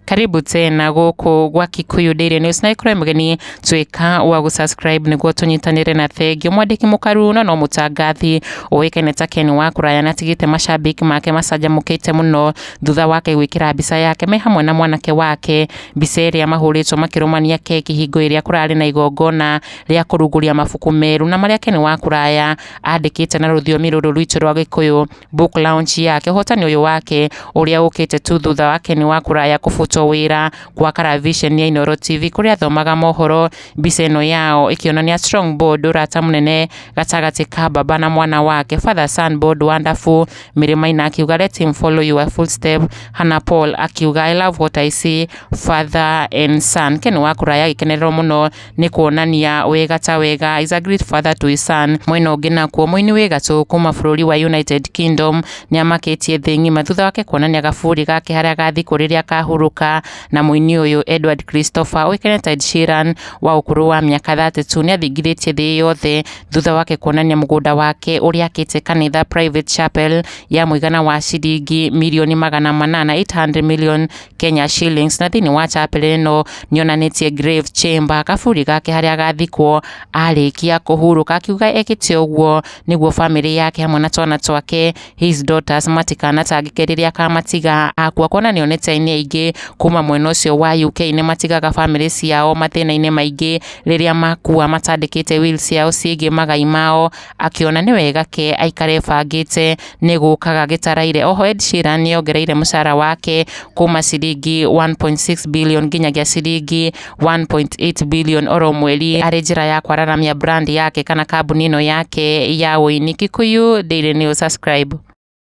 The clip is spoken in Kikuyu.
karibu tena gũkũ gwa kikuyu daily news na ikorwo mũgeni tuĩka wa gũsubscribe nĩguo tũnyitanĩre na thengio mwandĩki mũkaru na no mũtangathi ũĩkaine ta ken wa kũraya na atigĩte macambĩki make macanjamũkĩte mũno thutha wake gwĩkĩra mbica yake me hamwe na mwanake wake mbica ĩrĩa mahũrĩtwo makĩrũmania keki hingo ĩrĩa kũrarĩ na igongona rĩa kũrunguria mabuku merũ na marĩa Ken wa Kũraya andĩkĩte na rũthiomi rũrũ rwitũ rwa Gĩkũyũ book launch yake. Ũhotani ũyũ wake ũrĩa ũkĩte tu thutha wa Ken wa Kũraya kũbutwo wĩra gwa Karavision ya Inooro TV kũrĩa athomaga mohoro mbica ĩno yao ĩkĩonania Strong Board ũrata mũnene gatagatĩ ka baba na mwana wake Father Son Board Wonderful Mĩrĩ Maina akiuga Let him follow your footstep Hannah Paul akiuga I love what I see Father and Son Ken wa Kũraya agĩkenererwo mũno nĩ kuonania wega ta wega is a great father to his son mwena ũngĩ nakuo mũini wĩ gatũ kuma bũrũri wa United Kingdom nĩ amakĩtie thĩ ng'ima thutha wake kuonania gaburi gake harĩa gathikũ rĩrĩa kahurũka na mũini ũyũ Edward Christopher ũĩkaine ta Ed Sheeran wa ũkũrũ wa mĩaka 32 nĩ athingithĩtie thĩ yothe thutha wake kuonania mũgũnda wake ũrĩa akĩte kanitha private chapel ya mũigana wa ciringi mirioni magana manana 800 million Kenya Shillings na thĩinĩ wa chapel ĩno nĩ onanĩtie grave chamber kaburi gake harĩa agathikwo arĩkia kũhurũka akiuga ekĩte ũguo nĩguo famĩlĩ yake hamwe na twana twake his daughters matikanatangĩke rĩrĩa akamatiga akua kuona nĩ onete aini aingĩ kuma mwena ũcio wa UK nĩ matigaga famĩlĩ ciao mathĩna-inĩ maingĩ rĩrĩa makua matandĩkĩte will ciao ciĩgiĩ magai mao akĩona nĩ wega ke aikare bangĩte nĩ gũkaga gĩtaraire. Oho Ed Sheeran nĩ ongereire mũcara wake kuma ciringi 1.6 billion nginyagia ciringi 1.8 billion oro mweri arĩ njĩra ya kwararamia brand yake kana kambuni ĩno yake ya ũini. Kikuyu Daily News subscribe.